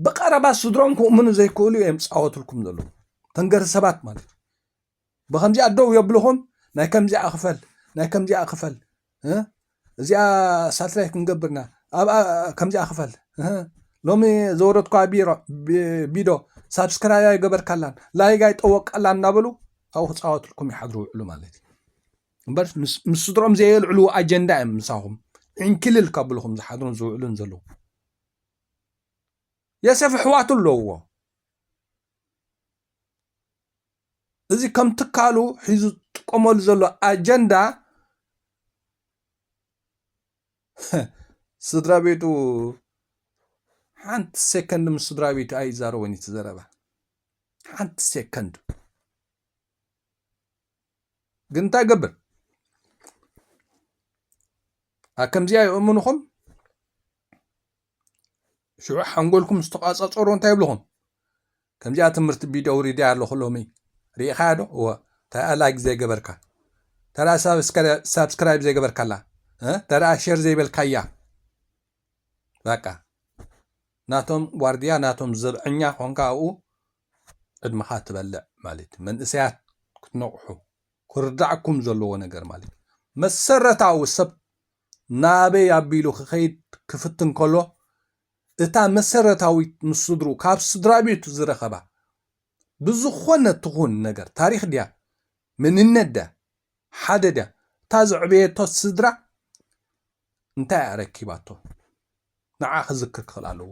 ብቐረባ ስድሮም ክእምኑ ዘይክእሉ እዮም ዝፃወትልኩም ዘለዉ ተንገሪ ሰባት ማለት እዩ ብኸምዚኣ ደው የብልኹም ናይ ከምዚኣ ክፈል ናይ ከምዚኣ ክፈል እህ እዚኣ ሳትላይት ክንገብር ኢና ኣብኣ ከምዚኣ ክፈል እህ ሎሚ ዘወረድኳ ቢሮ ቢዶ ሳብስክራይብ ኣይገበርካላን ላይግ ኣይጠወቃላን እናበሉ ኣብኡ ክፃወትልኩም ይሓድሩ ውዕሉ ማለት እዩ እምበር ምስ ምስ ስድሮም ዘየልዕልዎ ኣጀንዳ እዮም ምሳኹም ዕንኪልል ካብልኹም ዝሓድሩን ዝውዕሉን ዘለዉ የሰፍ ኣሕዋቱ ኣለውዎ እዚ ከም ትካሉ ሒዙ ዝጥቀመሉ ዘሎ ኣጀንዳ ስድራቤቱ ሓንቲ ሴከንድ ምስ ስድራቤቱ ኣይዛረቦን እዩ ትዘረባ ሓንቲ ሴከንድ ግን እንታይ ገብር ከምዚኣ ይእምንኹም ሽዑ ሓንጎልኩም ምስ ተቛጻጸሮ እንታይ ይብልኹም? ከምዚኣ ትምህርቲ ቪድዮ ኣውሪደያ ኣለኹ ሎሚ ርኢኻያ ዶ? እወ እንታይኣ ላይክ ዘይገበርካ እንታይኣ ሳብስክራይብ ዘይገበርካላ እንታይኣ ሸር ዘይበልካያ በቃ ናቶም ዋርድያ ናቶም ዘብዐኛ ኮንካ ኣብኡ ዕድመኻ ትበልዕ ማለት እዩ መንእሰያት ክትነቕሑ ክርዳዕኩም ዘለዎ ነገር ማለት እዩ መሰረታዊ ሰብ ናኣበይ ኣቢሉ ክኸይድ ክፍትን ከሎ፣ እታ መሰረታዊት ምስ ስድርኡ ካብ ስድራቤቱ ዝረኸባ ብዝኾነ ትኹን ነገር ታሪኽ ድያ መንነት ድያ ሓደ ድያ እታ ዘዕበየቶ ስድራ እንታይ ኣረኪባቶ ንዓ ክዝክር ክኽእል ኣለዎ።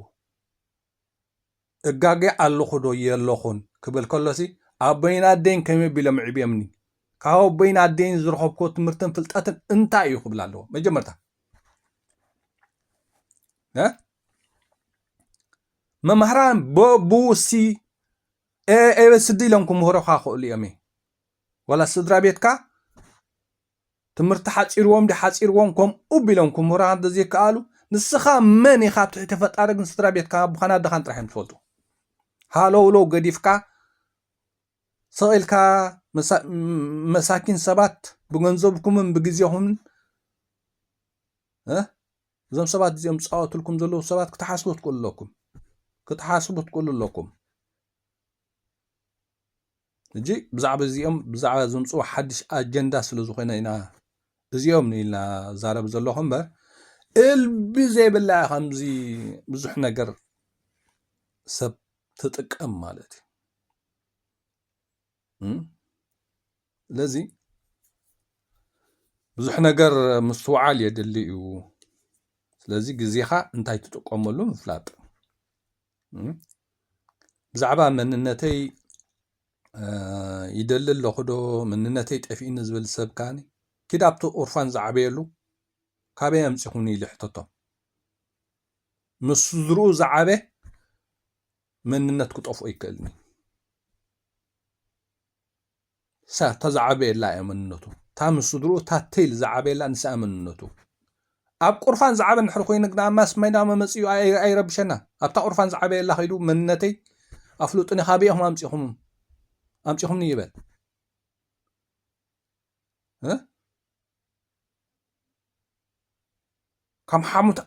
እጋገ ኣለኹ ዶ የለኹን ክብል ከሎሲ ኣቦይን ኣደይን ከመይ ቢሎም ዕብዮምኒ ካብ ኣቦይን ኣደይን ዝረኸብኩዎ ትምህርትን ፍልጠትን እንታይ እዩ ክብል ኣለዎ መጀመርታ መምህራን በቡሲ ኤበስዲ ኢሎም ክምህሩኻ ክእሉ እዮም ዋላ ስድራ ቤትካ ትምህርቲ ሓጺርዎም ድዩ ሓጺርዎም ከምኡ ቢሎም ክምህሩኻ እንተ ዘይከኣሉ ንስኻ መን ኢኻ ኣብ ትሕቲ ፈጣሪ ግን ስድራ ቤትካን ኣቦኻን ኣደኻን ጥራሕ እዮም ዝፈልጡ ሃለውለው ገዲፍካ ስቕ ኢልካ መሳኪን ሰባት ብገንዘብኩምን ብግዜኹምን እዞም ሰባት እዚኦም ዝፃወትልኩም ዘለዉ ሰባት ክትሓስቡ ትክእሉ ኣለኩም ክትሓስቡ ትክእሉ ኣለኩም እጂ ብዛዕባ እዚኦም ብዛዕባ ዝምፅኡ ሓድሽ ኣጀንዳ ስለ ዝኾነ ኢና እዚኦም ንኢልና ዛረብ ዘለኹ እምበር እልቢ ዘይብላ እያ ከምዚ ብዙሕ ነገር ሰብ ትጥቀም ማለት እዩ ስለዚ ብዙሕ ነገር ምስትውዓል የድሊ እዩ ስለዚ ግዜኻ እንታይ ትጥቀመሉ ምፍላጥ ብዛዕባ መንነተይ ይደሊ ኣለኹ ዶ መንነተይ ጠፊኡኒ ዝብል ሰብ ከዓኒ ኪድ ኣብቲ ቁርፋን ዝዓበየሉ ካበይ ኣምፂኹኒ ኢሉ ሕተቶም ምስ ስድርኡ ዝዓበ መንነት ክጠፍኦ ይክእልኒ ንሳ እታ ዝዓበየላ እያ መንነቱ። እታ ምስ ስድርኡ እታ ቴል ዝዓበየላ ንሳ እያ መንነቱ። ኣብ ቁርፋን ዝዓበ እንድሕር ኮይኑ ግና ማስ ሜዳ መመጺኡ ኣይረብሸና። ኣብታ ቁርፋን ዝዓበየላ ከይዱ መንነተይ ኣፍሉጡኒ ካበይ ኢኹም ኣምጺኹምም ኣምጺኹምኒ ይበል።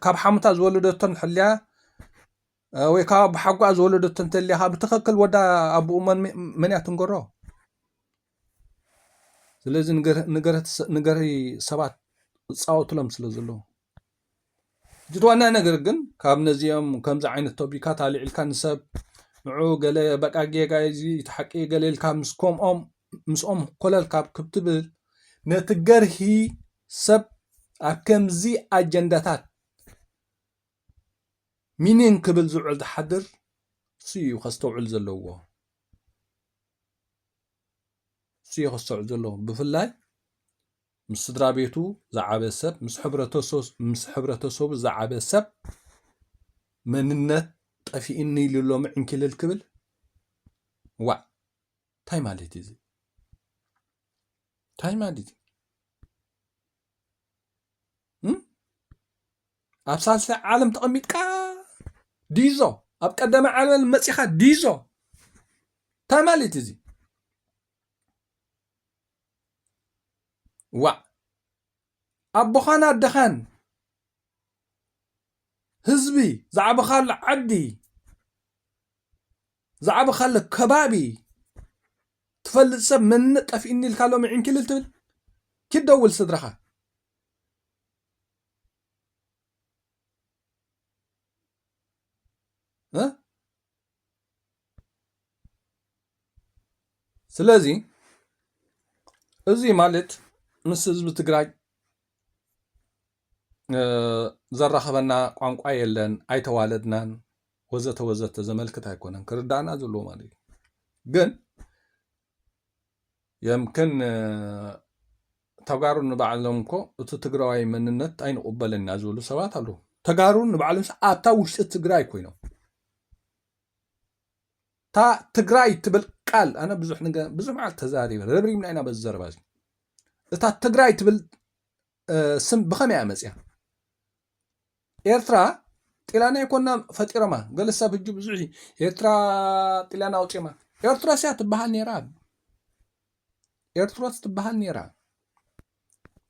ካብ ሓሙታ ዝወለደቶን ሕልያ ወይ ካብ ኣቦሓጎኣ ዝወለደቶ እንተልያኻ ብትኽክል ወዳ ኣቦኡ መን እያ ትንገሮ? ስለዚ ንገሪ ሰባት ዝፃወቱሎም ስለ ዘለዉ። እቲ ዋና ነገር ግን ካብ ነዚኦም ከምዚ ዓይነት ቶቢካት ኣልዒልካ ንሰብ ንዑ ገለ በቃ ጌጋ እዚ እቲ ሓቂ ገለ ኢልካ ምስ ከምኦም ምስኦም ኮለል ካብ ክትብል ነቲ ገርሂ ሰብ ኣብ ከምዚ ኣጀንዳታት ሚኒን ክብል ዝውዕል ዝሓድር እሱ እዩ ከስተውዕል ዘለዎ እሱ እዩ ከስተውዕል ዘለዎ ብፍላይ ምስ ስድራቤቱ ዝዓበ ሰብ፣ ምስ ሕብረተሰቡ ዝዓበ ሰብ መንነት ጠፊእኒ ኢሉ ሎሚ ዕንኪልል ክብል? ዋእ እንታይ ማለት እዩ እዚ? እንታይ ማለት እዩ? ኣብ ሳልሳይ ዓለም ተቐሚጥካ ዲዞ ኣብ ቀዳመ ዓለም መፂኻ ዲዞ እንታይ ማለት እዚ ዋእ ኣቦኻን ኣደኻን ህዝቢ ዝዓበኻሉ ዓዲ ዝዓበኻሉ ከባቢ ትፈልጥ ሰብ መንነት ጠፊኡኒ ኢልካ ሎሚ ዕንኪልል ትብል ኪድ ደውል ስድራኻ እ ስለዚ እዚ ማለት ምስ ህዝቢ ትግራይ ዘራኽበና ቋንቋ የለን፣ ኣይተዋለድናን ወዘተ ወዘተ ዘመልክት ኣይኮነን ክርዳእና ዘለዎ ማለት እዩ ግን የምክን ተጋሩ ንባዕሎም እኮ እቲ ትግራዋይ መንነት ኣይንቑበልን ኢና ዝብሉ ሰባት ኣለዉ። ተጋሩ ንባዕሎምስ ኣብታ ውሽጢ ትግራይ ኮይኖም እታ ትግራይ ትብል ቃል ኣነ ብዙሕ ብዙሕ መዓልቲ ተዛሪበ ረብሪብና ኢና በዚ ዘረባ እዚ እታ ትግራይ ትብል ስም ብኸመይ እያ መፅያ ኤርትራ ጥልያን ኣይኮናን ፈጢሮማ ገለ ሰብ ህጂ ብዙሕ ኤርትራ ጥልያን ኣውጺማ ኤርትሮስ እያ ትበሃል ነይራ ኤርትሮስ ትበሃል ነይራ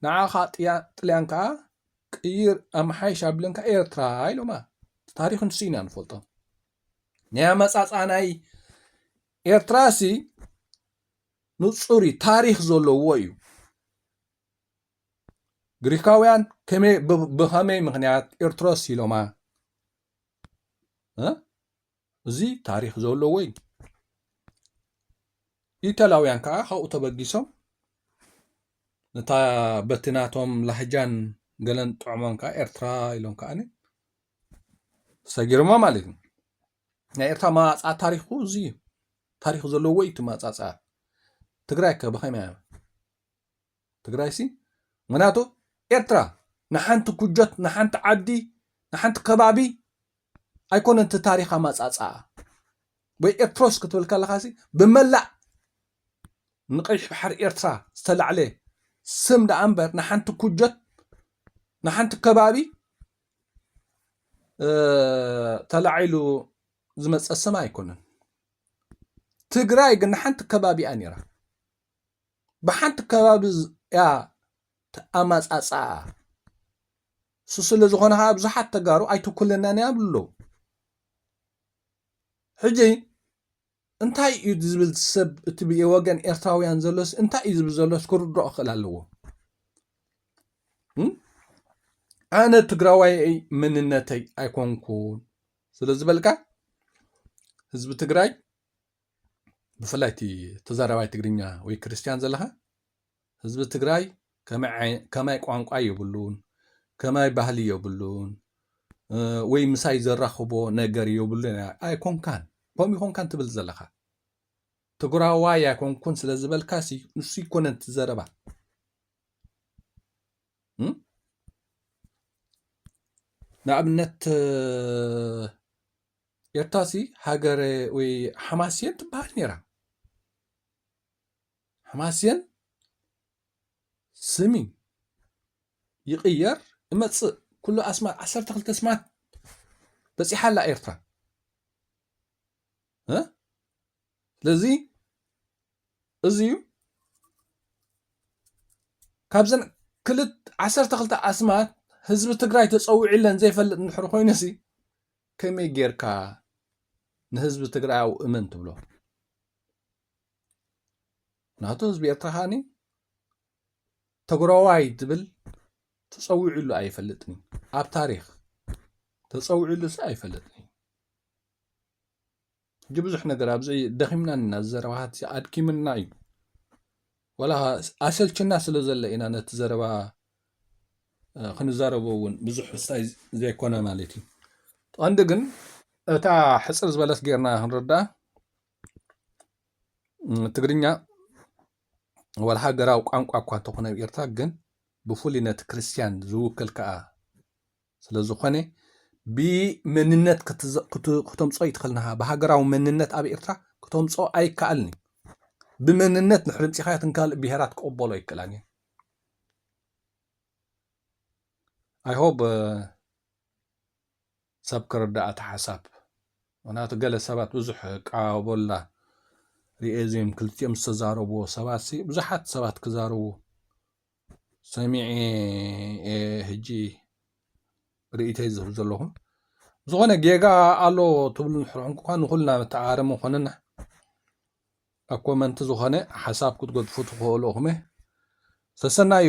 ንዓኻ ጥልያን ከዓ ቅይር ኣምሓይሽ ኣብለን ከዓ ኤርትራ ኢሎማ ታሪክ ንሱ ኢና ንፈልጦ ናይ ኣመጻጽኣ ናይ ኤርትራሲ ንጹር እዩ ታሪክ ዘለዎ እዩ ግሪካውያን ከመይ ብ- ብኸመይ ምኽንያት ኤርትሮስ ኢሎማ እ? እዚ ታሪክ ዘለዎ እዩ ኢተላውያን ከዓ ካብኡ ተበጊሶም ነታ በቲ ናቶም ላህጃን ገለን ጥዕሞም ከዓ ኤርትራ ኢሎም ከዓኒ ሰጊርማ ማለት እዩ ናይ ኤርትራ መዋፅኣ ታሪኩ እዚ እዩ ታሪክ ዘለዎ እዩ እቲ መዋፅኣ ትግራይ ከ ብኸመይ እያ ትግራይሲ ምክንያቱ ኤርትራ ንሓንቲ ኩጆት ንሓንቲ ዓዲ ንሓንቲ ከባቢ ኣይኮነን እቲ ታሪክ ኣማጻጽኣ ወይ ኤርትሮስ ክትብል ከለካሲ ብመላእ ንቀይሕ ባሕሪ ኤርትራ ዝተላዕለ ስም ደኣ እምበር ንሓንቲ ኩጆት ንሓንቲ ከባቢ ተላዒሉ ዝመፀ ስም ኣይኮነን ትግራይ ግን ንሓንቲ ከባቢኣ ነይራ ብሓንቲ ከባቢ እያ ኣማፃፅኣ እሱ ስለዝኾነ ከዓ ብዙሓት ተጋሩ ኣይትኩልናን እያ ብሎ ሕጂ እንታይ እዩ ዝብል ሰብ እቲ ወገን ኤርትራውያን ዘሎስ እንታይ እዩ ዝብል ዘሎስ ክርድኦ ክእል ኣለዎ ኣነ ትግራዋይ መንነተይ ኣይኮንኩን ስለዝበልካ ህዝቢ ትግራይ ብፍላይ እቲ ተዛራባይ ትግርኛ ወይ ክርስትያን ዘለኻ ህዝቢ ትግራይ ከማይ ቋንቋ የብሉን ከማይ ባህሊ የብሉን ወይ ምሳይ ዘራኽቦ ነገር የብሉን ኣይኮንካን ከምኡ ይኮንካን ትብል ዘለኻ ትግራዋይ ኣይኮንኩን ስለ ዝበልካ ንሱ ይኮነን ትዘረባ ንኣብነት ኤርትራ ሲ ሃገረ ወይ ሓማስየን ትበሃል ነይራ ሓማስየን ስሚ ይቕየር እመፅእ ኩሉ ኣስማት ዓሰርተ ክልተ ስማት በፂሓ ኣላ ኤርትራ ስለዚ እዚ እዩ ካብዘን ክልት ዓሰርተ ክልተ ኣስማት ህዝቢ ትግራይ ተፀዊዑለን ዘይፈልጥ እንድሕር ኮይኑ ሲ ከመይ ጌርካ ንህዝቢ ትግራያዊ እመን ትብሎ ናቱ ህዝቢ ኤርትራ ከዓኒ ትግራዋይ ትብል ተፀዊዑሉ ኣይፈልጥን እዩ ኣብ ታሪክ ተፀዊዑሉ ሲ ኣይፈልጥን እዩ ሕጂ ብዙሕ ነገር ኣብዚ ደኺምና እና እዚ ዘረባታት እዚ ኣድኪምና እዩ ዋላ ኣሰልችና ስለ ዘሎ ኢና ነቲ ዘረባ ክንዛረቦ እውን ብዙሕ ሕሳይ ዘይኮነ ማለት እዩ ቀንዲ ግን እታ ሕፅር ዝበለት ጌርና ክንርዳእ ትግርኛ ወላ ሃገራዊ ቋንቋ እኳ እንተኾነ ኤርትራ ግን ብፍሉይ ነቲ ክርስትያን ዝውክል ከዓ ስለዝኾነ ብመንነት ክተምፅኦ ኣይትኽእልንኻ ብሃገራዊ መንነት ኣብ ኤርትራ ክተምፅኦ ኣይከኣልን እዩ ብመንነት ድሕሪ ምፂኻዮ እተን ካልእ ብሄራት ክቕበሎ ኣይክእላን እየን ኣይሆብ ሰብ ክርዳእ እቲ ሓሳብ ምክንያቱ ገለ ሰባት ብዙሕ ቃበላ ሪኤ ዜም ክልቲኦም ዝተዛረብዎ ሰባትሲ ብዙሓት ሰባት ክዛረቡ ሰሚዔ እየ ሕጂ ርእይቶይ ዝህብ ዘለኹ ዝኾነ ጌጋ ኣሎ ትብሉ ንድሕር ኮንኩ ንኹልና መተዓራረሚ ኮነና ኣብ ኮመንቲ ዝኾነ ሓሳብ ክትገድፉ ትኽእሉ ኢኹም ሰሰናዩ